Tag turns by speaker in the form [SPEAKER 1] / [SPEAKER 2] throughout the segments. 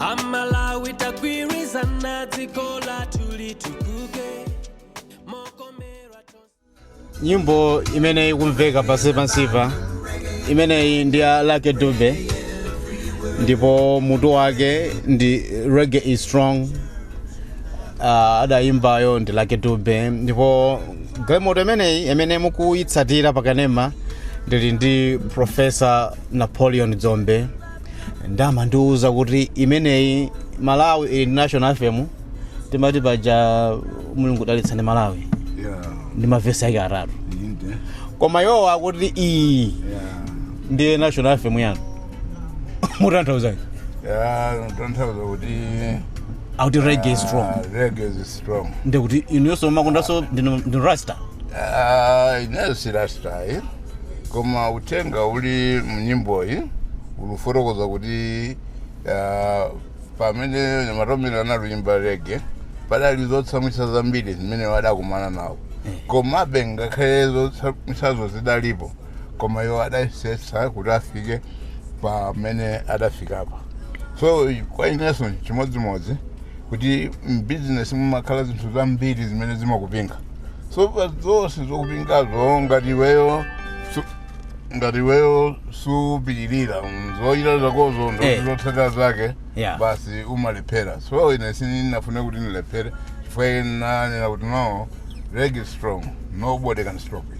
[SPEAKER 1] amalawi tikagwirizana dziko lathu litukuke mokomera
[SPEAKER 2] tonse nyimbo imene ikumveka pansi pansipa imeneyi ndi ya lucky dube ndipo mutu wake ndi reggae is strong uh, adayimbayo ndi lucky dube ndipo programu imeneyi imene mukuyitsatira pakanema ndili ndi profesa napoleon dzombe ndi amandiuza kuti imeneyi malawi ili ndi national anthem timati paja mulungu dalitsani malawi Yeah. ndi mavesi ake atatu Inde. koma iwowa akuti iyi Yeah. ndiye national anthem yanu mutanthauzanji
[SPEAKER 3] Yeah, tanthauza kuti
[SPEAKER 2] akuti reggae is strong ah, reggae is strong.
[SPEAKER 3] ndikuti inuyonso
[SPEAKER 2] mumakondanso ndinu rasta Ah,
[SPEAKER 3] ineyo si rasta eh? koma uthenga uli mnyimboyi ulufotokoza kuti ah, pamene amaturo anali kuyimba reggae padali zotsamwitsa zambiri zimene iwo adakumana nawo komabe ngakhale zotsamwitsazo zidalipo koma iwo adayesetsa kuti afike pamene adafikapa so kwa inenso chimodzimodzi kuti mbizinesi mumakhala zinthu zambiri zimene zimakupinga so pa zonse zokupingazo ngati iweyo su- ngati iweyo supilira zovuta zakozo Eh. ndiye zotsatira zake Yeah. basi umalephera so ine sininafune kuti ndilephere chifukwa ine nanena kuti no reggae is strong nobody can stop it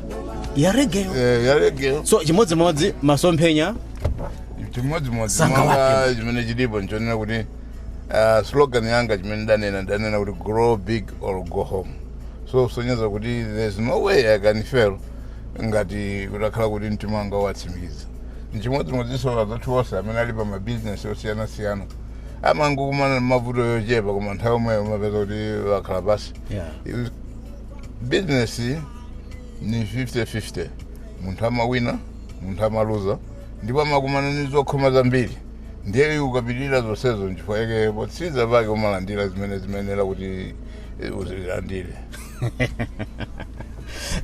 [SPEAKER 2] ya reggae Eh, ya reggae so chimodzimodzi masomphenya
[SPEAKER 3] chimodzimodzi Sanga monga
[SPEAKER 2] wake. chimene chilipo
[SPEAKER 3] nchonena kuti ah, slogan yanga chimene ndanena ndanena kuti grow big or go home so kusonyeza kuti there's no way i can fail ngati kutakhala kuti mtima wanga watsimikiza nchimodzimodzinso azathu onse amene ali pa mabizinesi osiyanasiyana amangokumana ndi mavuto yochepa koma nthawi yomweyo umapeza kuti wakhala pansi yeah. bizinesi ni 50-50 munthu amawina munthu amaluza ndipo amakumana ni zokhoma zambiri ndiye ukapilira zonsezo nchifukwa yake potsiriza pake umalandira zimene zimayenera kuti eh,
[SPEAKER 2] uzilandire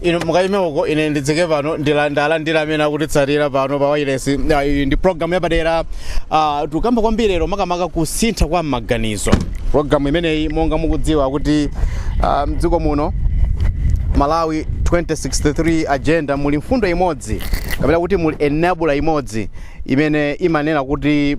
[SPEAKER 2] inu mukayime uko ine ndidzike pano ndilandire amene akutitsatira pano pa wailesi Ah, iyi ndi programu yapadera Ah, tikukamba kwambiri lero makamaka kusintha kwa maganizo Programu imeneyi monga mukudziwa kuti ah, mdziko muno Malawi 2063 agenda muli mfundo imodzi kapena kuti muli enabler imodzi imene imanena kuti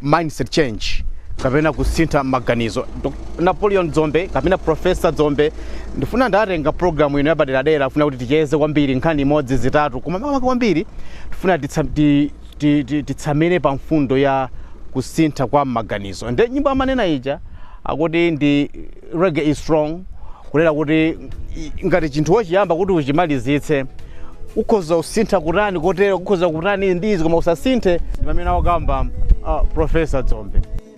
[SPEAKER 2] mindset change kapena kusintha maganizo. Dok- Napoleon Dzombe kapena Professor Dzombe ndifuna ndatenga programu ino yapaderadera ndifuna kuti ticheze kwambiri nkhani imodzi zitatu koma makamaka kwambiri tifuna titsa- ti- ti, ti, titsamire pa mfundo ya kusintha kwa maganizo nde nyimbo amanena ija akuti ndi reggae is strong kunena kuti i- ngati chinthu wochiyamba kuti uchimalizitse ukhoza kusintha kutani kotero ukhoza kutani ndi izi koma usasinthe ndi mmene wakamba uh, profesa dzombe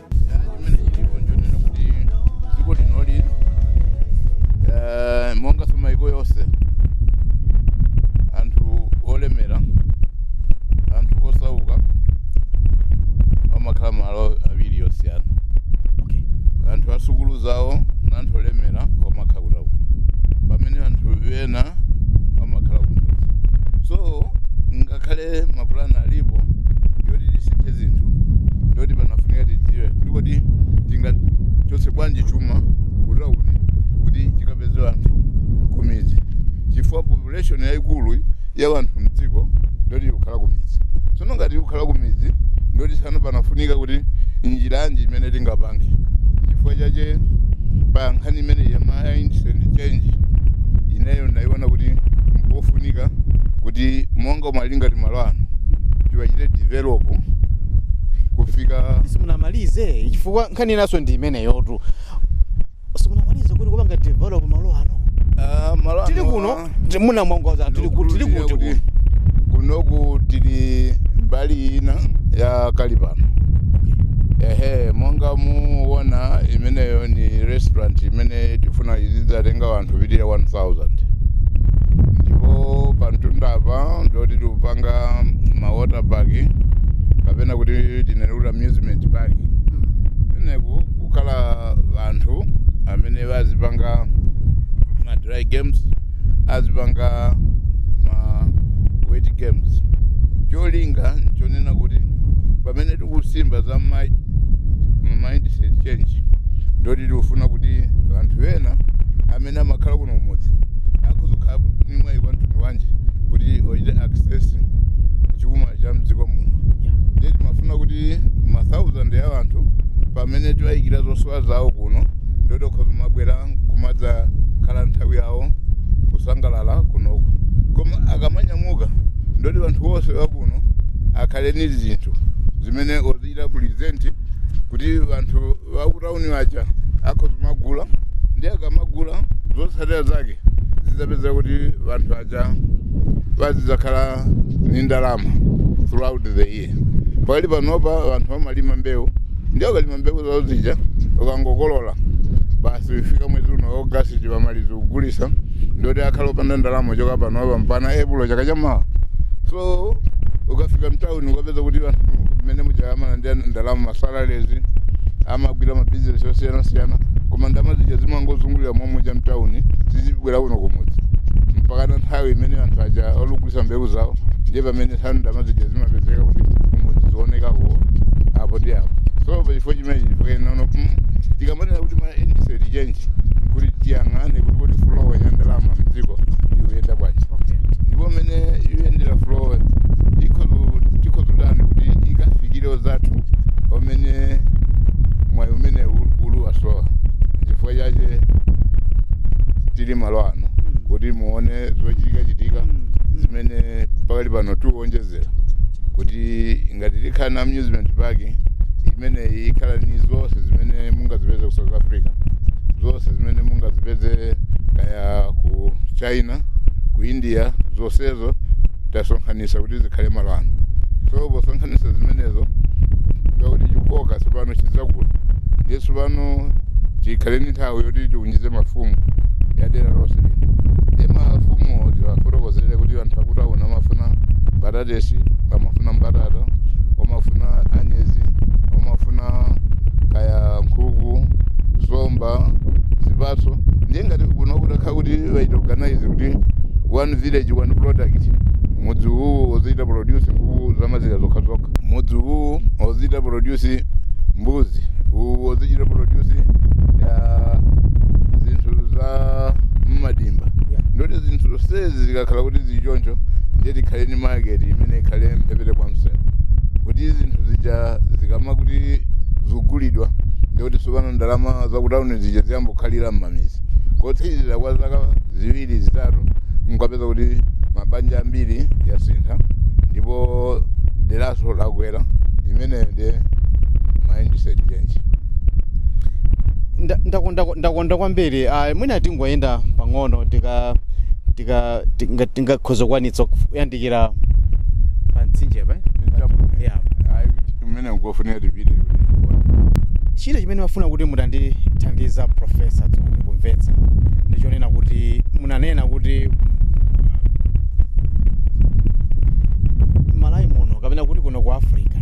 [SPEAKER 3] chimene chilipo nchonena kuti dziko linoli eh, monganso maiko yonse anthu olemera anthu osauka amakhala malo awiri yosiyana okay anthu asukulu zawo na anthu olemera amakhala kutauni pamene anthu ena amakhala kumudzi so ngakhale mapulani alipo zinthu ndoti panafunika tidziwe kuti kodi tingachotse bwanji chuma kutauni kuti chikapeze anthu kumidzi chifukwa population yayikulu ya wanthu mdziko ndoti ikukhala kumidzi tsono ngati ikukhala kumidzi ndoti tsano panafunika kuti njira yanji imene tingapange chifukwa chache pa nkhani imene ya mindset change ineyo ndaiona kuti mpofunika kuti monga kuma ali ngati malo ano tiwachite develop kufikira
[SPEAKER 2] simunamalize chifukwa nkhani inaso ndi imeneyotu simunamalize kuti kupanga develop malo ano Ah, malo ano tili
[SPEAKER 3] kuno
[SPEAKER 2] ti- sitinawauze tili kuti tili kuti
[SPEAKER 3] kuno kunoku tili mbali ina ya kalipano ehe monga muona imeneyo ni restaurant imene tifuna izidzatenga wanthu opitirira 1000 ndipo pa mtunda apa ndoti tikupanga ma water park kapena kuti tinene kuti amusement park kumeneku kukhala anthu amene azipanga ma dry games azipanga ma wet games cholinga nchonena kuti pamene kusimba za ma- ma mindset change ndoti tikufuna kuti anthu ena amene amakhala kuno kumudzi azikhala ni mwayi wa mtundu wanji kuti ochite access chuma cha mdziko muno ndiye timafuna kuti ma thousand a anthu pamene tiwayikira zosowa zawo kuno ndoti okhoza kumabwera kumadzakhala nthawi yawo kusangalala kunoku koma akamanyamuka ndoti anthu onse wakuno akhale ndi zinthu zimene ozichita present kuti anthu akutauni waja akhoza kumagula ndi akamagula zotsatira zake zidzapeza kuti anthu aja wazidzakhala ndi ndalama throughout the year pakali panopa anthu amalima mbewu ndi akalima mbewu zawo zija ukangokolola basi ifika mwezi uno augasti amaliza kugulisa ndoti akhala opanda ndalama choka panopa mpana epulo chaka chamawa so ukafika mtawuni ukapeza kuti anthu mmene muchayamana ndi ndalama masalale azimagwira mabizinesi osiyanasiyana koma ndalama zija zimangozungulira momweja mtawuni sizibwera kuno kumudzi mpakana nthawi imene anthu aja akugulisa mbewu zawo ndiye pamene zitha ndalama zija zimapezeka kuti kumudzi zionekako apo ndi apo so pachifukwa chimenechi chifukwa inono tikamanena kuti mindset change kuti tiyang'ane kuti kuti flow ya ndalama mdziko ikuyenda bwanji okay ndipo mmene ikuyendera flow tikhoza kutani kuti ikafikire anzathu amene mwayi umene ul- ulu wasowa nchifukwa chache tili malo ano kuti muone zimene zikuchitikachitika Mm. zimene pakali pano tikuwonjezera kuti ngati tikhala na amusement park imeneyi ikhala ni zonse zimene mungazipeze ku south africa zonse zimene mungazipeze kaya ku china ku india zonsezo tasonkhanisa kuti zikhale malo ano so posonkhanisa zimenezo kuti chikoka tsopano chidzakula ndiye tsopano tikhale ndi nthawi yoti tiunjize mafumu ya dera lonse lino ndiye mafumu tiwafotokozere kuti anthu akutawuni amafuna mbatatesi amafuna mbatata amafuna anyezi amafuna kaya nkhuku somba zipatso ndiye ngati kuno kutakhala kuti achita organize kuti one village one product mudzi uwu ozichita produce nkhuku zamazira zokhazokha mudzi uwu ozichita produce mbuzi uwu ozichita produce ya zinthu za mmadimba Yeah. ndoti zinthu zonsezi zikakhala kuti zili choncho ndiye tikhale ni market imene ikhale mphepete kwa msewu kuti zinthu zija zikama kuti zigulidwa ndikuti tsopano ndalama zakutawuni zija ziyambe kukhalira m'mamidzi kotsirizira kwa zaka ziwiri zitatu mukapeza kuti mabanja ambiri yasintha ndipo deraso lakwera imeneyo ndiye mindset change
[SPEAKER 2] Nda- ndakonda ndakonda kwambiri ah, mwina tingoyenda pang'ono tika tika tinga- tingakhoza kukwanitsa kuyandikira tikira pa mtsinje pa Yeah.
[SPEAKER 3] umene mukufunira
[SPEAKER 2] tipite china chimene ndimafuna kuti mutandithandiza a profesa dzombe kumvetsa ndichonena kuti munanena kuti malawi muno kapena kuti kuno ku africa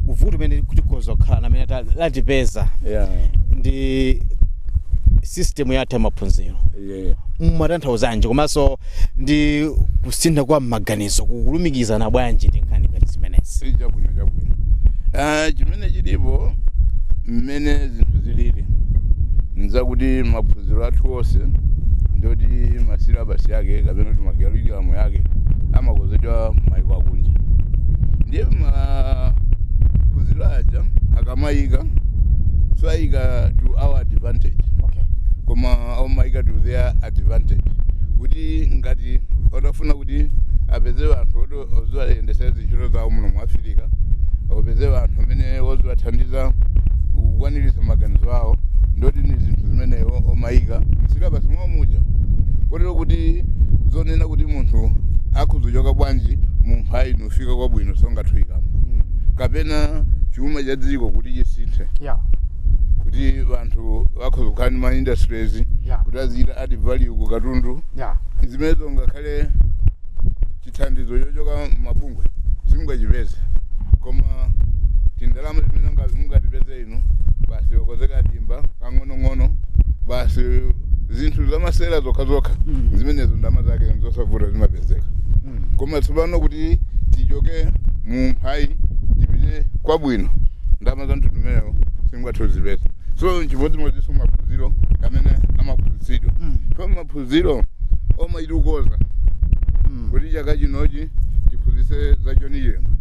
[SPEAKER 2] vuto limene tikhoza kukhala nalo limene latipeza yeah. ndi system yathu ya maphunziro mumatanthauzanji komanso ndi kusintha kwa maganizo kukulumikizana bwanji ndi nkhani ngati zimenezi si chabwino
[SPEAKER 3] chabwino Ah, chimene chilipo mmene zinthu zilili nzakuti maphunziro athu onse ndoti masilabasi yake kapena kuti makalikulam yake amakonzedwa maiko akunja ndiye maphunziro aja akamayika sayika to our advantage okay. koma omaika to their advantage kuti ngati otafuna kuti apeze vanthu oti oziwayendesa zintchito zawo muno mu afirika opeze vanthu amene oziwathandiza kukwaniritsa maganizo awo ndoti ni zinthu zimene o- omaika msilabasi mwawo muja kotero kuti zonena kuti munthu akhuzochoka bwanji mumphawi nufika kwabwino songathuikamo kapena chuma cha dziko kuti chisinthe yeah kuti vanthu vakhoza kukhala ndi ma industries Yeah. kuti azichita add value ku katundu zimenezo ngakhale chithandizo chochoka mabungwe simungachipeze koma tindalama timene munga- mungatipeze inu basi okonzeka dimba kang'onong'ono basi zinthu zamasera zokhazokha Mm. zimenezo ndalama zake nzosavuta zimapezeka Mm. koma tsopano kuti tichoke mu mphawi tipite kwabwino ndalama za mtundu umenewo simungathe kuzipeza so nchimodzimodzinso maphunziro amene amaphunzitsidwa Mm. pa maphunziro omaitukoza Mm. kuti chaka chinochi tiphunzitse za John Chilembwe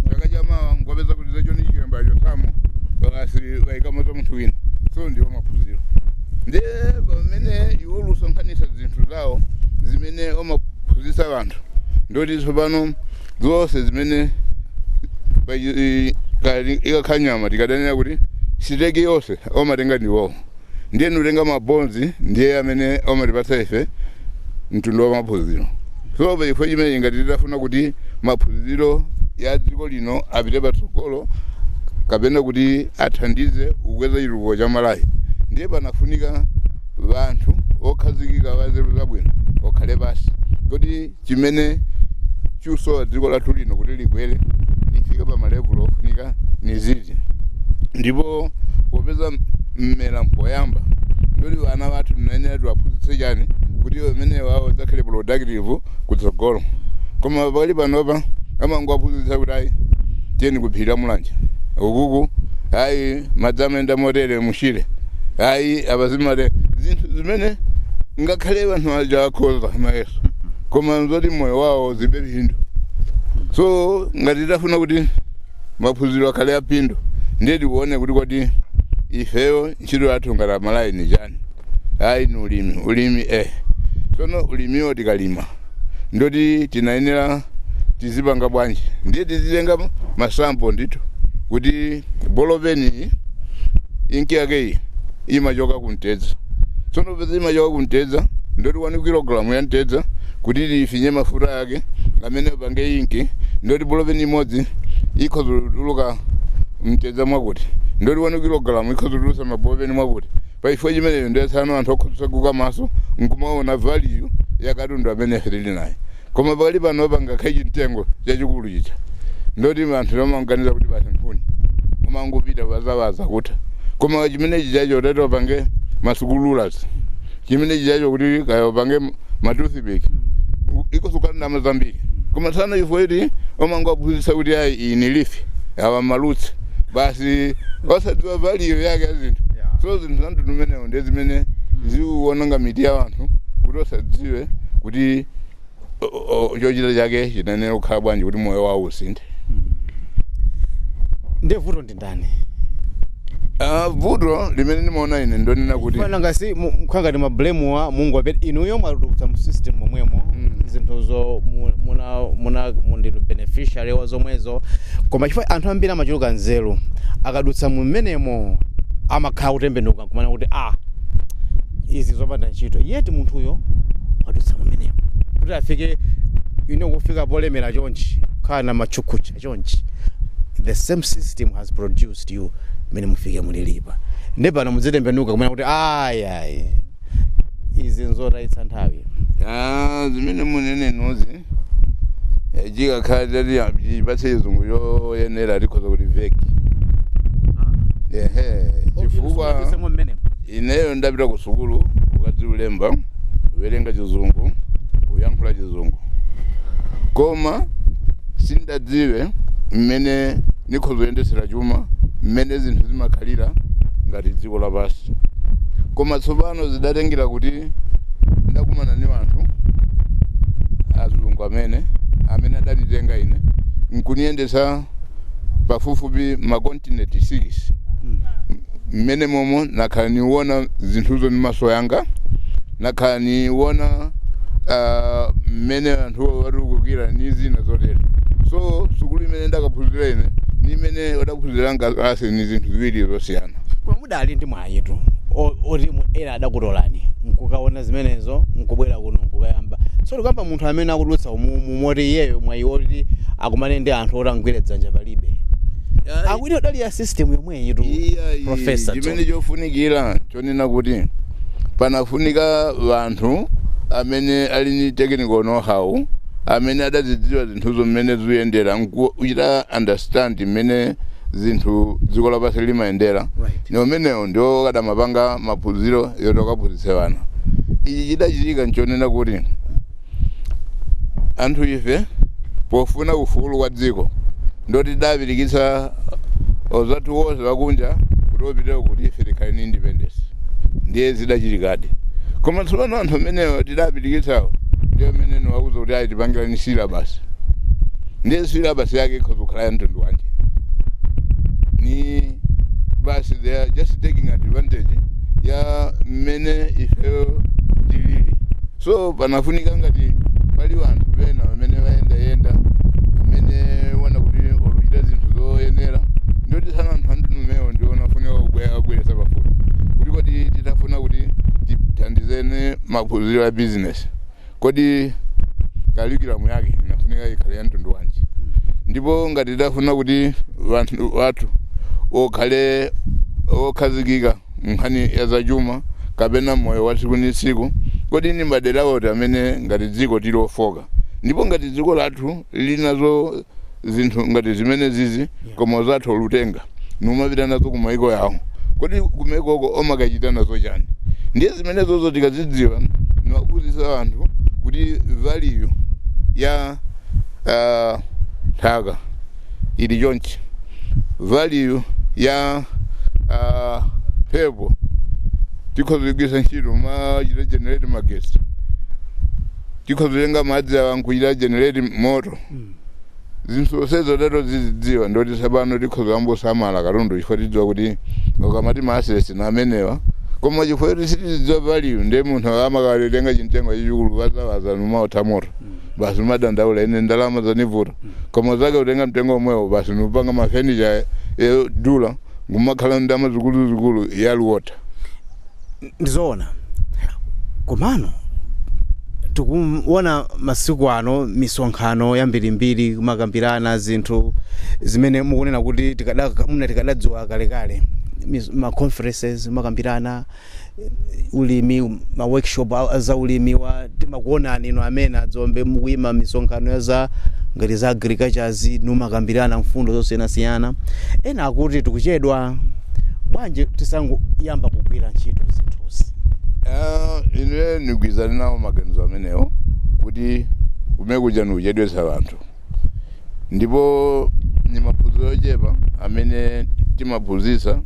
[SPEAKER 3] chaka chamawa ngwapeza kuti za John Chilembwe achosamo basi wayikamo za munthu wina so ndiwo maphunziro ndi pamene iwo lusonkhanitsa zinthu zawo zimene omaphunzitsa anthu ndoti tsopano zonse zimene pa- i- kali- ikakhala nyama tikadanira kuti siteki yonse omatenga ndi iwowo ndiye nutenga mabonzi ndiye amene omatipatsa ife mtundu wa maphunziro so pa chifukwa chimene ngati titafuna kuti maphunziro ya dziko lino apite patsogolo kapena kuti athandize kukweza chitukuko cha malawi ndiye panafunika vanthu okhazikika vanzeru zabwino okhale pasi kuti chimene chikusowa dziko lathu lino kuti likwere lifike pa malevulo ofunika ni ziti ndipo popeza mmera mpoyamba ndoti vana vathu tinayenera tiwaphunzitse chani kuti amene wawo dzakhale productive kutsogolo koma pakali panopa amangowaphunzitsa kuti ayi tiyeni kuphiri mulanje ukuku ayi madzi amayenda motere mushire ayi apazimale zinthu zimene ngakhale vanhu vaja vakhoza koma nzoti moyo wawo zilibe phindu so ngati tafuna kuti maphunziro akhale aphindu ndiye tione kuti kodi ifeyo ntchito yathu ngati Amalawi ni chani ayi ni ulimi ulimi eh tsono ulimiwo tikalima ndoti tinayenera tizipanga bwanji ndiye tizitenga masamu ndithu kuti bolopeni inki yake iyi imachoka ku mtedza tsono popeza imachoka ku mtedza ndoti 1 kilogalamu ya mtedza kuti ifinye mafuta yake amene apange inki ndoti bolopeni imodzi ikhoza kutuluka mtedza mwakuti ndoti 1 kilogalamu ikhoza kutulusa mabolopeni mwakuti pachifukwa chimeneyo ndiye tsano anthu akhoza kutseguka maso nkumaona value ya katundu amene ife tili naye koma pakali panopa ngakhale chimtengo chachikulu chija ndoti anthu amaganiza kuti basi nkhuni kumangopita kuwazawaza kutha koma chimene chijacho utati wapange masikuyazi chimene chijacho kuti kaya wapange matoothpick ikhozutuluka ndalama zambiri koma tsano ifo eti kumangowaphunzitsa kuti ayi iyi lifi awa marutsi basi osadziwa valiyo yake ya zinthu so zinthu zamtundu umenewo ndi zimene ziwononga mitu ya anthu kuti asadziwe kuti o- o- chochita chake chinayenera kukhala bwanji kuti moyo wawo
[SPEAKER 2] usinthe ndiye vuto ndi ndani Ah, vuto
[SPEAKER 3] limene ndimaona ine ndonena kuti fana ngati mukhala
[SPEAKER 2] ngati mumablame wa mzungu yeti inuyo mwadutsa mu system momwemo Mm. zinthuzo mu- muna muna ndinu beneficiary wa zomwezo koma chifukwa anthu ambiri amachuluka nzeru akadutsa mumenemo amakhala akutembenuka kumanena kuti a ah, izi zopanda ntchito yeti munthuyo wadutsa kumeneko kuti afike ine kufika polemera chonchi kukhala na machakuticha chonchi the same system has produced you mmene mufike mulilipa ndi pano mudzitembenuka kumanena kuti ayayi izi nzotayitsa nthawi ah, zimene
[SPEAKER 3] munenenazozi Eh, chikakhala atati ya- atipatse chizungu choyenera tikhoza kuti mwa feki ehe chifukwa Kusemo mmenemo. ineyo ndapita ku sukulu kukadziwa kulemba kuwerenga chizungu kuyankhula chizungu koma sindadziwe mmene nikhoza kuyendetsera chuma mmene zinthu zimakhalira ngati dziko lapansi koma tsopano zidatengera kuti ndakumana ni anthu azungu amene amene adanitenga ine nkuniyendetsa pafupifupi makontinenti 6 mmenemomo nakhala niwona zinthuzo ni maso yanga nakhala niwona uh, mmene anthu watukukira ni zina zotero so sukulu imene ndakaphunzira ine ni imene adaphunzira Ngase ni zinthu ziwiri zosiyana koma mudali ndi
[SPEAKER 2] mwayitu o- oti mu- ena adakutolani nkukaona zimenezo nkubwera kuno nkukayamba so tikukamba munthu amene akudutsa umumu moti iyeyo mwayi oti akumane ndi anthu oti amugwire dzanja palibe akuti mudali mu system yomweyitu Iya, iyi, professor John. chimene chofunikira
[SPEAKER 3] chonena kuti panafunika wanthu amene ali ni technical know-how amene adazidziwa zinthuzo mmene zikuyendera nkuchita understand mmene zinthu dziko lapansi limayendera Right. ni amenewo ndiwo akadamapanga maphunziro yoti akaphunzitse wana ichi chidachitika nchonena kuti anthu ife pofuna ufulu wa dziko ndiye tidapirikitsa anzathu wonse wakunja kuti apite kwawo kuti ife tikhale ni independence ndiye zidachitikadi koma tsopano anthu amenewo tidapirikitsawo ndiye amene tiwauza kuti ayi tipangireni silabasi ndiye silabasi yake ikhoza kukhala ya mtundu wanji ni basi they are just taking advantage ya mmene ifeyo So panafunika ngati pali wanthu wena amene wayendayenda amene waona kuti oluchita zinthu zoyenera ndoti tsono anthu ngati amenewo ndi wofunika kubwe- kuwabweretsa pafupi kuti kodi titafuna kuti tithandizane maphunziro a bizinesi kodi kalikiramu yake ifunika ikhale ya mtundu wanji ndipo ngati tifuna kuti wanthu wathu okhale okhazikika nkhani ya zachuma kapena moyo wa tsiku ndi tsiku kodi ndi madera oti amene ngati dziko tili ofoka ndipo ngati dziko lathu lili nazo zinthu ngati zimenezizi koma anzathu olutenga nkumapita nazo ku maiko yawo kodi kumaikoko omakachita nazo chani ndiye zimenezozo tikazidziwa niwaphunzitsa anthu kuti value ya ah, nthaka ili chonchi value ya uh, mphepo tikhoza kugwiritsa ntchito nkumachita generate magesi tikhoza kutenga madzi awa nkuchita generate moto zinthu zonsezo titazidziwa ndoti tsopano tikhoza kuyamba kusamala katundu chifukwa tidziwa kuti ukamati ma assets ndi amenewa koma chifukwa kuti sitidziwa value ndiye munthu amakatenga chimtengo chachikulu wazawaza nkumaotha moto basi nkumadandaula ine ndalama zanivuta koma mnzake kutenga mtengo omwewo basi nkupanga mafenicha odula nkumakhala ni ndalama zikuluzikulu yaluota
[SPEAKER 2] ndizoona komano tikuona masiku ano misonkhano yambirimbiri kumakambirana zinthu zimene mukunena kuti tikada- muna tikadadziwa kalekale Mis- ma conferences kumakambirana ulimi ma workshop a- a za ulimi wa timakuonani inu amene adzombe mukuyima misonkhano ya za ngati za agricultures numakambirana mfundo zosiyanasiyana ena akuti tikuchedwa bwanji tisangoyamba kugwira ntchito zinthuzi
[SPEAKER 3] Ah, ine nigwizana nawo maganizo amenewo kuti kumenekuja nikuchedwetsa wanthu ndipo ni maphunziro ochepa amene timaphunzitsa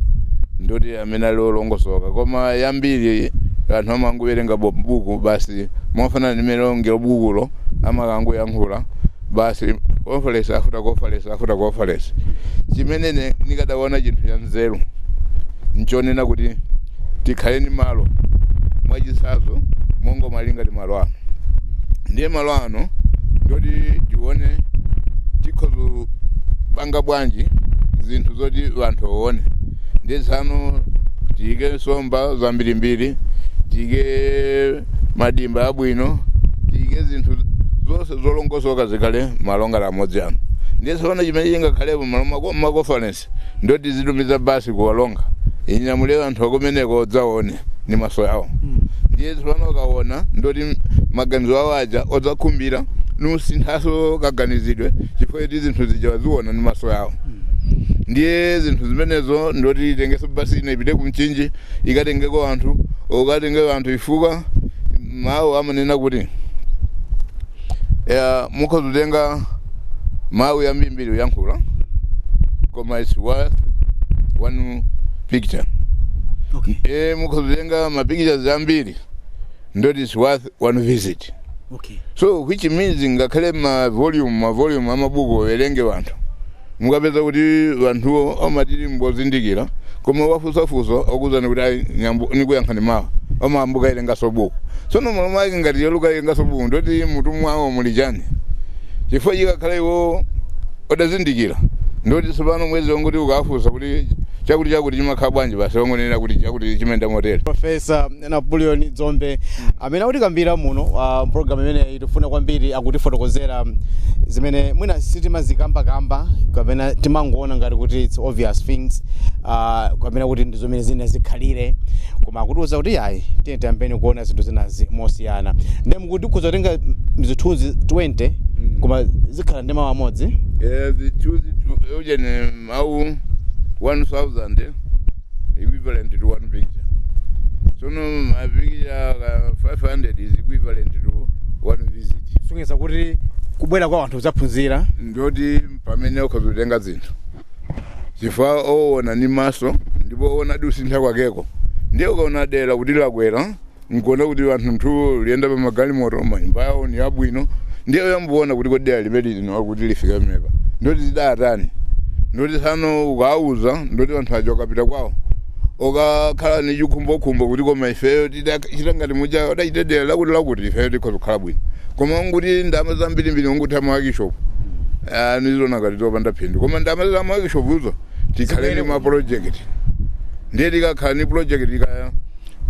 [SPEAKER 3] ndoti amene ali olongosoka koma yambiri anthu amangowerenga bo- buku basi mofanana ndi mmene oneru bukulo amakangoyankhula basi conference after conference after conference chimene nikadaona chinthu cha nzeru nchonena kuti tikhale ndi malo mwachitsanzo monga malinga ati malo ano ndiye malo ano ndoti tione tikhoza panga bwanji zinthu zoti wanthu aone ndiye tsono tiyike nsomba zambirimbiri tiyike madimba abwino tiyike zinthu zonse zolongosoka zikhale malo ngati amodzi ano ndiye tsopano chimene chingakhalepo malo mwa ma conference ndoti tizitumiza basi kuwalonga inyamule anthu akumeneko adzaone ni maso yawo ndiye tsopano akaona ndoti maganizo awo aja adzakhumbira nusinthaso kaganizidwe chifukwa zinthu zija waziona ni maso yawo ndiye zinthu zimenezo ndoti itengeso basi inaipite ku Mchinji ikatengeko anthu ikatengeko anthu chifukwa mawu amanena kuti eh, mukhoza kutenga mawu ambirimbiri kuyankhula koma its worth one picture okay e mukhoza kutenga mapictures ambiri ndoti its worth one visit okay so
[SPEAKER 2] which means
[SPEAKER 3] ngakhale ma volume ma volume amabuku awerenge wanthu mukapeza kuti wanthuwo amati mbozindikira koma mwafunsa funso akuuzani kuti ayi nyambo nikuyankhani mawa amayamba kuwerengaso buku tsono malomo ake ngati ayamba kuwerengaso buku ndoti mutu mwawo muli chani chifukwa chikakhala iwo odazindikira ndoti tsopano bwezi wangoti ukafunsa kuti chakuti chakuti chimakhala bwanji basi wangonena kuti chakuti chimayenda motero profesa
[SPEAKER 2] Napoleon Dzombe amene akutikambira muno uh, mpulogalamu imeneyi tifuna kwambiri akutifotokozera zimene mwina sitimazikambakamba kapena timangoona ngati kuti its obvious things uh, kapena kuti ndi mmene zinazikhalira koma akutiuza kuti ayi tiye tiyambeni kuona zinthu zinazi mosiyana ndiye mukuti ukhoza kutenga zithunzi 20 koma zikhala ndi mawu amodzi Eh, zithunzi
[SPEAKER 3] tu- ujeni mawu 1000 equivalent to one picture sono mapikicha ka 500 is equivalent to one visit sonyeza kuti
[SPEAKER 2] kubwera kwa anthu kudzaphunzira
[SPEAKER 3] ndoti pamene ukhoza kutenga zinthu chifukwa owona ni maso ndipo owona kusintha kwakeko ndiye ukaona dera kuti lakwera mkuona kuti anthu nthuwo liyenda pa magalimoto manyumba yawo ni abwino ndiye uyambuona kuti kodi dera limene lino kuti lifika pamenepa ndoti zidatani ndoti tsano ukawuza ndoti anthu aja ukapita kwawo ukakhala ni chikhumbokhumbo kuti koma ifeyo tidachita ngati muja udachita dera lakuti lakuti ifeyo tikhoza kukhala bwino koma unguti ndama zambirimbiri unguti a maworkshop nizona ngati zopanda phindu koma ndama za maworkshop zo tikhale ni maproject ndiye tikakhala ni project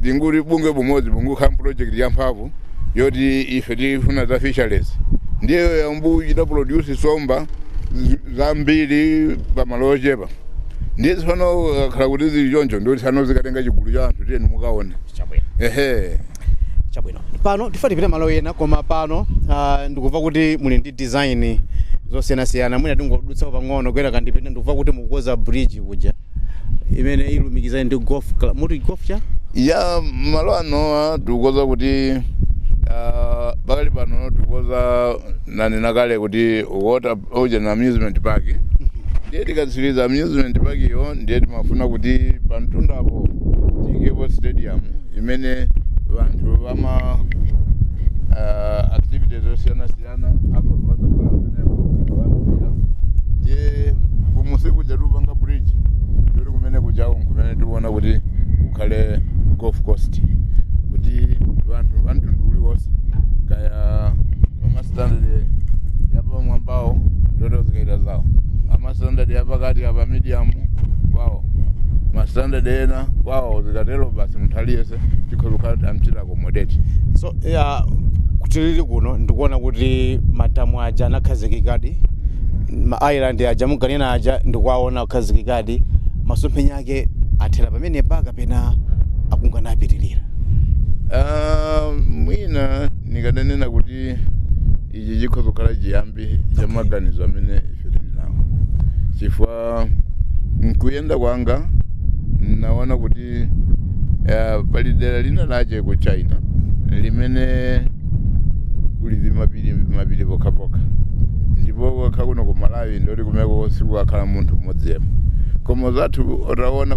[SPEAKER 3] binguli bungwe bumodzi bungokhala project ya mphamvu yoti ife tifuna za fisheries ndiye yamba kuchita produce nsomba zi- zambiri pamalo ochepa ndiye tsopano kakhala kuti zili choncho ndoti tsano zikatenga chigulu cha anthu tiyeni mukaone chabwino
[SPEAKER 2] ehe chabwino pano tifuna tipite malo ena koma pano ah, ndikumva kuti muli ndi design zosiyanasiyana mwina tingodutsapo pang'ono kuyera kandipita ndikumva kuti mukukonza bridge kuja imene ilumikizane ndi golf club muti golf cha ya
[SPEAKER 3] malo anowa tikukonza kuti ah, pakali pano tikukonza nanena kale kuti water ocean amusement park ndiye tikatsiriza amusement park iyo ndiye timafuna kuti pa mtundapo tiyikepo stadium imene vanthu vama ah, activities osiyana siyana ana akhoza adzakhala amene akuyambira ndiye kumunsi kuja tupanga bridge ndoti kumene kujawo nkumene tiona kuti kukhale golf course kuti anthu amtundu uliwonse kaya amastandard yapamwambawo ndoti azikachita zawo amastandard yapakati apa medium kwawo mastandard ena kwawo zikatero basi munthu aliyense ife tikhoza kukhala kuti amchita accommodate so
[SPEAKER 2] ya kutilili kuno ndikuona kuti madamu aja anakhazikikadi ma island aja munkanena aja ndikuwaona akhazikikadi masomphenya ake athera pamenepa kapena akunka napitirira Ah,
[SPEAKER 3] mwina nikadanena kuti ichi chikhoza kukhala chiyambi cha maganizo amene ife tili nawo chifukwa mkuyenda kwanga naona kuti uh, pali dera lina lache ku china limene kuli vimapiri mapiri pokhapokha ndipo kwakha kuno ku malawi ndoti kumeko sikukakhala munthu mmodzi yemwe koma anzathu ataona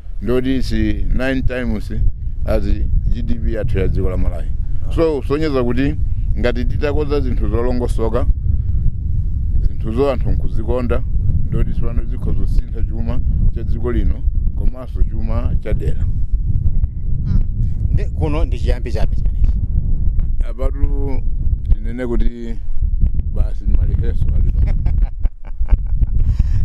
[SPEAKER 3] ndoti is 9 times as gdp yathu ya dziko la malawi so kusonyeza kuti ngati titakonza zinthu zolongosoka zinthuzo anthu nkuzikonda ndoti tsopano zikhoza kusintha chuma cha dziko lino komanso chuma cha dera
[SPEAKER 2] Ndi- kuno ndi chiyambi chabe chimenechi apatu
[SPEAKER 3] tinene kuti basi malire ake alipo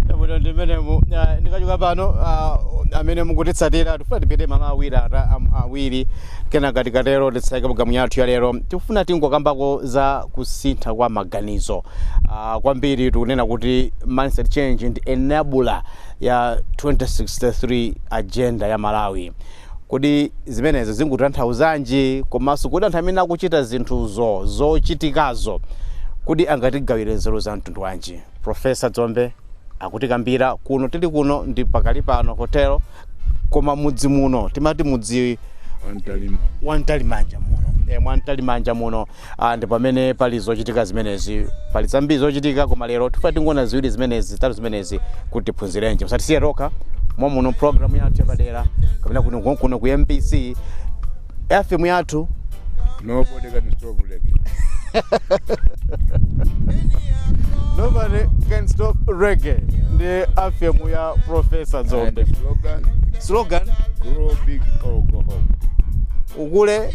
[SPEAKER 2] Chabwino ndi mmenemu Ah, ndikachoka pano ah, amene mukutitsatira tifuna tipite malo awiri ata- am- awiri kenaka tikatero titseke programu yathu ya lero tikufuna tingokambako za kusintha kwa maganizo Ah, kwambiri tikunena kuti mindset change ndi enabler ya 2063 agenda ya malawi Kodi zimenezo zingutanthauzanji? Komanso kodi anthu amene akuchita zinthuzo, zochitikazo, kodi angatigawire nzeru za mtundu wanji? Profesa Dzombe akutikambira kuno tili kuno ndi pa Kalipano Hotel, koma mudzi muno timati mudzi Antalima. wa Mtalimanja muno. E, mwa Mtalimanja muno Ah, ndi pamene pali zochitika zimenezi pali zambiri zochitika koma lero tifuna tingoona ziwiri zimenezi zitatu zimenezi kuti tiphunzirenji musatisiye tokha muno programu yathu yapadera kapena kuno kuno ku mbc fm yathu
[SPEAKER 3] Nobody can stop
[SPEAKER 2] reggae. nobody can stop reggae ndi FM ya profesa Dzombe the slogan, slogan grow
[SPEAKER 3] big or go home. ukule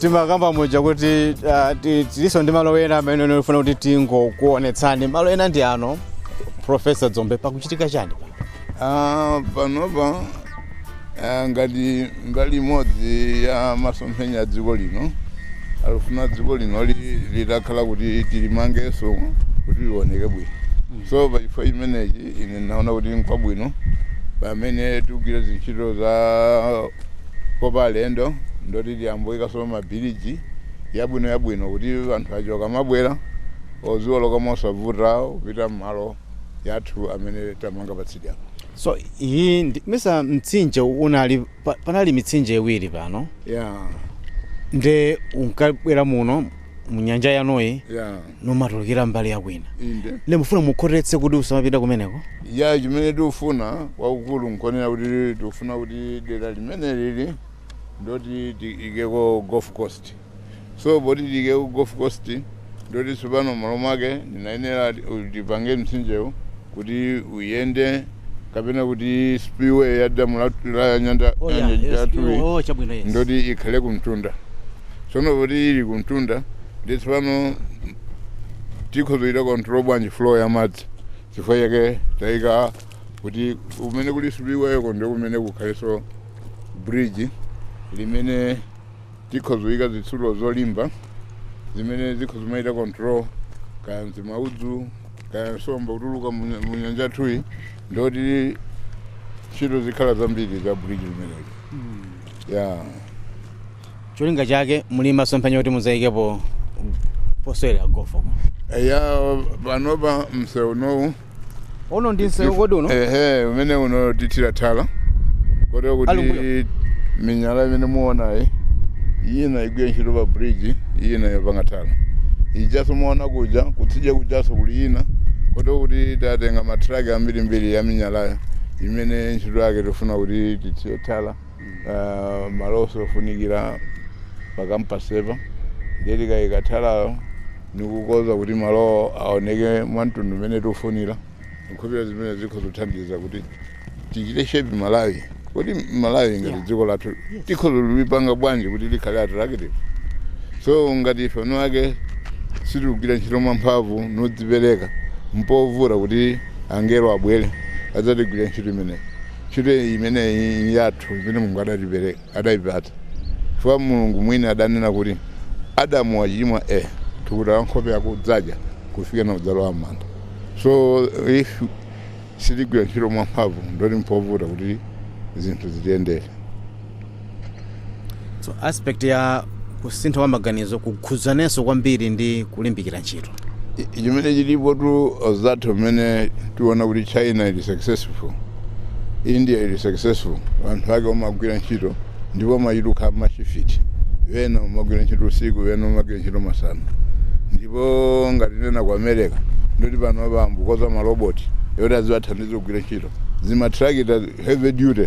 [SPEAKER 2] timakamba muja kuti ah, ti- tilinso ndi malo ena amene ndifuna kuti tingokuonetsani malo ena ndi ano profesa dzombe pakuchitika chani Ah, panopa
[SPEAKER 3] ah, ngati mbali imodzi ya masomphenya a dziko lino akufuna dziko lino li- litakhala kuti tilimangenso kuti lioneke bwino so pachifukwa chimenechi ine naona kuti nkwabwino pamene tikugwira zintchito za kopa alendo ndoti tiyambe kuikaso mabiliji yabwino yabwino kuti anthu aja akamabwera aziwoloka mosavuta kupita mmalo yathu amene tamanga patsidya apa so
[SPEAKER 2] iyi ndi- mesa mtsinje unali pa- panali mitsinje iwiri pano yeah nde unkabwera muno mu nyanja inoyi yeah numatulukira mbali ya kwina inde nde mufuna mukhotetse kuti usamapita kumeneko ya
[SPEAKER 3] chimene tikufuna kwakukulu nkonena kuti tikufuna kuti dera limene lili ndoti tiikeko golf course so poti tiikeko golf course ndoti tsopano malo mwake ndiyenera tipange mtsinjewu kuti uyende kapena kuti spillway ya damu la, la nyanja Oh, yeah, nyanja yes, yathuyi oh, chabwino, yes. ndoti ikhale kumtunda tsono poti ili kumtunda ndi tsopano tikhozoita control bwanji flow ya madzi chifukwa chake tayika kuti kumene kuli spillwayko ndi kumene kukhalenso bridge limene Tikhoza kuyika zitsulo zolimba zimene zikhoza kumayita control kaya mzimaudzu kaya nsomba kutuluka mu nya- mu nyanja yathuyi ndoti ntchito zikhala zambiri za bridge limeneli ya
[SPEAKER 2] cholinga chake muli masomphenya kuti muzayikepo posewera golf uko ya panopa
[SPEAKER 3] mseunowu Uno
[SPEAKER 2] ndi msewu kodi uno? Ehe, umene
[SPEAKER 3] uno tithira thala. Kotero kuti Alumbuyo. minyala imene muonayi ina igwira ntchito pa bridge, ina yopanga thala. Ijaso muona kuja, kutsidya kujaso kuli ina. Kotero kuti tatenga matraki ambirimbiri ya minyalayo imene ntchito yake tifuna kuti tithire thala. uh, malonso ofunikira pa campus apa ndiye tikayika thalayo nikukonza kuti malowo aoneke mwa mtundu umene tiufunira nkhupeza zimene zikhozothandiza kuti tichite shape malawi kuti malawi ngati Yeah. dziko lathu Yes. tikhozolipanga bwanji kuti likhale attractive so ngati ife eni ake sitikugwira ntchito mwamphamvu nodzipereka mpovuta kuti angelo abwere adzatigwirire ntchito imeneyi Ntchito imeneyi ili yathu imene Mulungu adaipereka, adaipatsa, chifukwa Mulungu mwini adanena kuti, Adamu wachimwa eh, thukuta la nkhope yako udzadya kufikana udzalowa m'manda. So if sitigwira ntchito mwamphamvu ndoti mpovuta kuti zinthu zitiyendere.
[SPEAKER 2] so aspect ya kusintha kwa maganizo kukhudzanenso kwambiri ndi kulimbikira ntchito I- chimene
[SPEAKER 3] chilipotu anzathu mmene tiona kuti china ili successful india ili successful anthu ake omagwira ntchito ndipo amayenda mashifiti wena omagwira ntchito usiku wena omagwira ntchito masana ndipo ngati tinena ku america ndoti pano ayamba kukonza maloboti yoti aziwathandiza kugwira ntchito zimatrakita heavy duty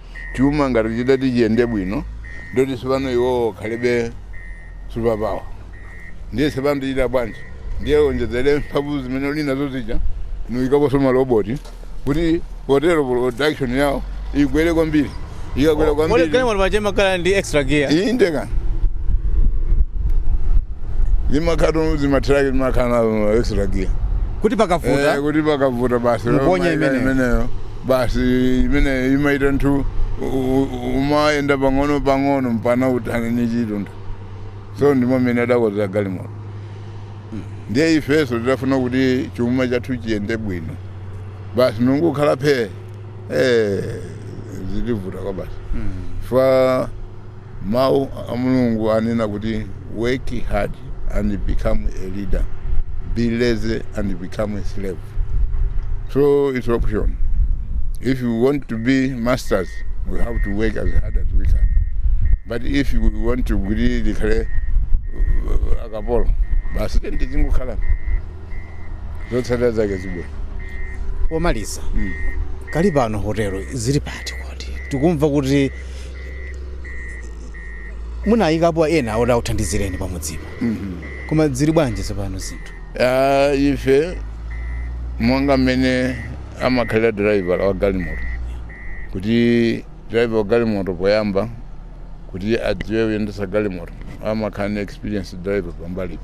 [SPEAKER 3] chuma ngati chikati chiyende bwino ndoti tsopano iwowo akhalebe super power ndiye tsopano tichita bwanji ndiye onjezere mphamvu zimene uli nazo zija nuyikaponso maloboti kuti potero production yawo igwere kwambiri ikagwera Kodi kwambiri galimoto paja imakhala
[SPEAKER 2] ndi extra gear? inde
[SPEAKER 3] kana zimakhato zimatraki zimakhala nazo extra gear Kuti Eh, pakavuta
[SPEAKER 2] kuti pakavuta basi Muponye
[SPEAKER 3] imeneyo. imeneyo basi imeneyo imapita ntunda umayenda pang'ono pang'ono mpana uthane ni chitunda so ndimo mmene adakozera galimoto ndiye ifenso tidafuna kuti chuma chathu chiyende bwino basi nungukhala phee eh, zitivuta kwa basi chifukwa Mau a Mulungu anena kuti work hard and become a leader, be lazy and become a slave. So it's option. If you want to be masters, we have to work as hard as we can. But if you want to be likhale uh, akapolo, basi tende zingukhala. Zotsata zake zibwe. pomaliza
[SPEAKER 2] kali pano hotelo zili pati kodi tikumva kuti munayikapo ena oti akuthandizireni pamudzipa koma ziri bwanji tsopano zinthu Ah, ife
[SPEAKER 3] monga mmene amakhalira driver wa galimoto kuti driver wa galimoto poyamba kuti adziwe kuyendesa galimoto amakhala ni experience driver pambalipa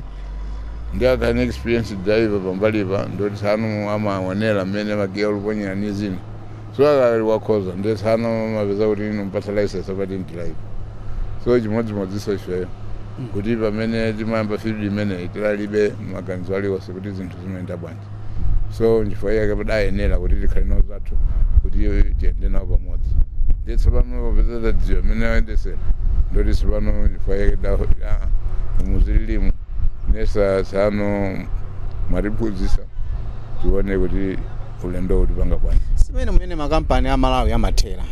[SPEAKER 3] ndi akhala ni experience driver pambalipa ndoti tsano amaonera mmene magiya akuponyera ni zina So akali wakhoza ndiye tsano amapeza kuti inu mpatsa license apa didn't like so chimodzimodzinso ifeyo kuti pamene timayamba field imeneyi tilalibe maganizo aliwonse kuti zinthu zimayenda bwanji so nchifukwa chake padayenera kuti tikhale nawo zathu kuti tiyende nawo pamodzi ndiye tsopano popeza tadziwa mmene ayendesera ndoti tsopano nchifukwa chake da- ah, muzililimu nesa tsano mwatiphunzitsa tione kuti ulendo tiupanga bwanji simene mumene
[SPEAKER 2] makampani a malawi amathera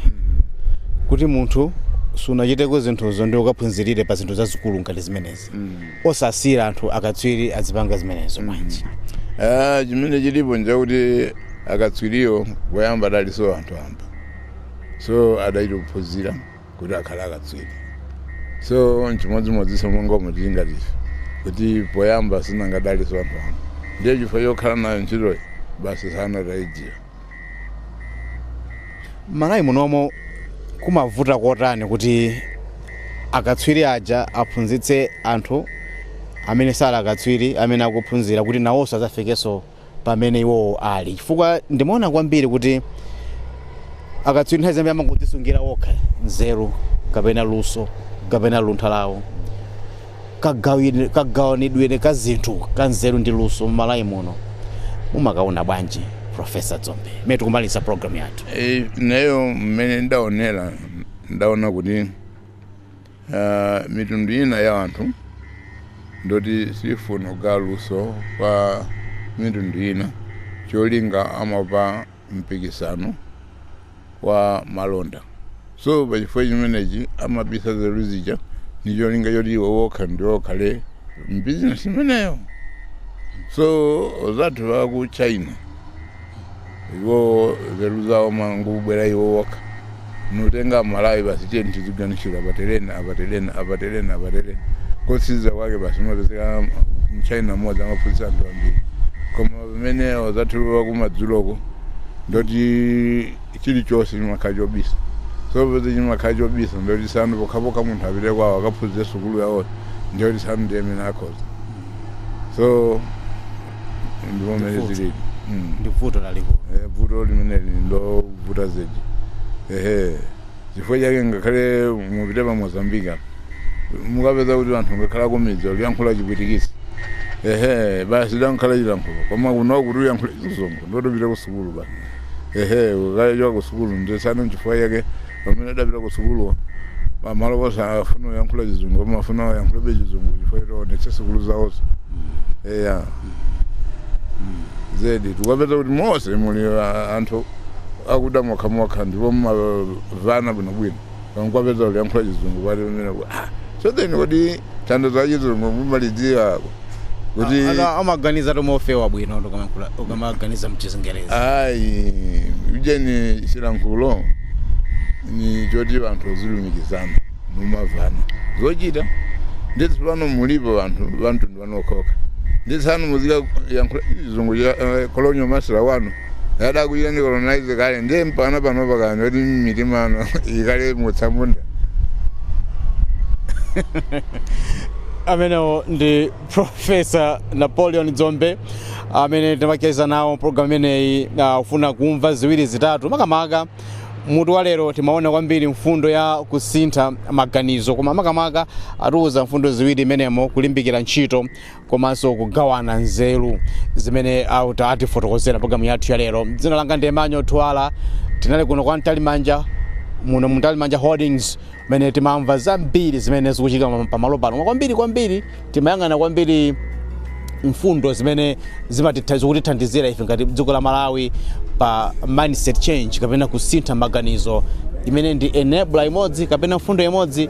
[SPEAKER 2] kuti munthu sunachiteko zinthuzo ndi ukaphunzirire pa zinthu zazikulu ngati zimenezi osasiyira anthu akatswiri azipanga zimenezo bwanji Ah,
[SPEAKER 3] chimene chilipo nchakuti akatswiriwo poyamba adaliso anthu wamba so adachita kuphunzira kuti akhale akatswiri so nchimodzimodzinso monga umu tili ngati ife kuti poyamba sinangadalinso anthu wamba ndiye chifukwa chokhala nayo ntchitoyi basi tsano
[SPEAKER 2] taidziwa mmalawi munomo kumavuta kotani kuti akatswiri aja aphunzitse anthu amene sali akatswiri amene akuphunzira kuti nawonso adzafikenso pamene iwowo ali chifukwa ndimaona kwambiri kuti akatswiri nthawi zambiri amangodzisungira okha nzeru kapena luso kapena luntha lawo kagawanidwire ka zinthu ka nzeru ndi luso mmalawi muno mumakaona bwanji profesa dzombe mmene tikumaliza programu yathu Eh, neyo
[SPEAKER 3] mmene ndaonera ndaona kuti Uh, mitundu ina ya anthu ndoti sifuna kugawira luso kwa mitundu ina cholinga amaopa mpikisano wa malonda so pachifukwa chimenechi amabisa nzeru zija ni cholinga choti iwo wokha ndiwo akhale mbizinesi imeneyo so azathu aku china iwowo nzeru zawo amangobwera iwo okha nkutenga amalawi basi tiyeni tiziganizira apateleni apateleni apateleni apateleni kotsiza kwake basi amapezeka mchina mmodzi amaphunzitsa anthu ambiri koma pamene azathu akumadzuloko ndoti chilichonse chimakhala chobisa so popeza chimakhala chobisa ndoti tsono pokhapokha munthu apite kwawo akaphunzire sukulu yawo ndiyoti tsono ndi amene akhoza so ndipo mmene zilili Mm. ndi
[SPEAKER 2] vuto lalikulu Eh, vuto
[SPEAKER 3] limeneli ndovuta zedi ehe chifukwa chake ngakhale mupite pa mozambique mukapeza kuti anthu ngakhale kumidzi akuyankhula chipwitikisi ehe basi chidangokhala chilankhulo koma kuno kuti uyankhule chizungu ndoti upite ku sukulu basi ehe ukachoka ku sukulu nde tsono nchifukwa chake pamene adapita ku sukuluwo pamalo ponse afuna uyankhula chizungu amafuna uyankhulabe chizungu chifukwa ati aonetse sukulu zawozo eya zedi tikapeza kuti monse muli ah, anthu akuda mokhamokha ndipo mumamvana bwinobwino nkuwapeza akuyankhula chizungu pati pamene ku- ah, so then kodi thandizo la chizungu mumalidziwa kuti Ana- amaganiza tomwe
[SPEAKER 2] ofewa bwino ukamayankhula- ukamaganiza mchizingerezi ayi ujeni
[SPEAKER 3] chilankhulo ndi choti anthu azilumikizana kumamvana zochita nde tsopano mulipo anthu amtundu wanu okhaokha nde tsono muzikayankhula chizungu cha eh, colonial master wanu adakuchitani colonize kale ndiye mpakana pano mpakana kuti mitima yanu ikali
[SPEAKER 2] mutsamunda amenewo ndi profesa napoleon dzombe amene timacheza nawo programu imeneyi uh, kufuna kumva ziwiri zitatu makamaka mutu wa lero timaona kwambiri mfundo ya kusintha maganizo koma makamaka atiuza mfundo ziwiri mmenemo kulimbikira ntchito komanso kugawana nzeru zimene atifotokozera programu yathu ya lero dzina langa ndi emmanuel thuwala tinali kuno kwa mtalimanja muno mu mtalimanja holdings mmene timamva zambiri zimene zikuchitika pa- pamalo pano Koma kwambiri kwambiri timayang'ana kwambiri mfundo zimene zimatitha- zikutithandizira ife ngati dziko la malawi pa mindset change kapena kusintha maganizo imene ndi enabler imodzi kapena mfundo imodzi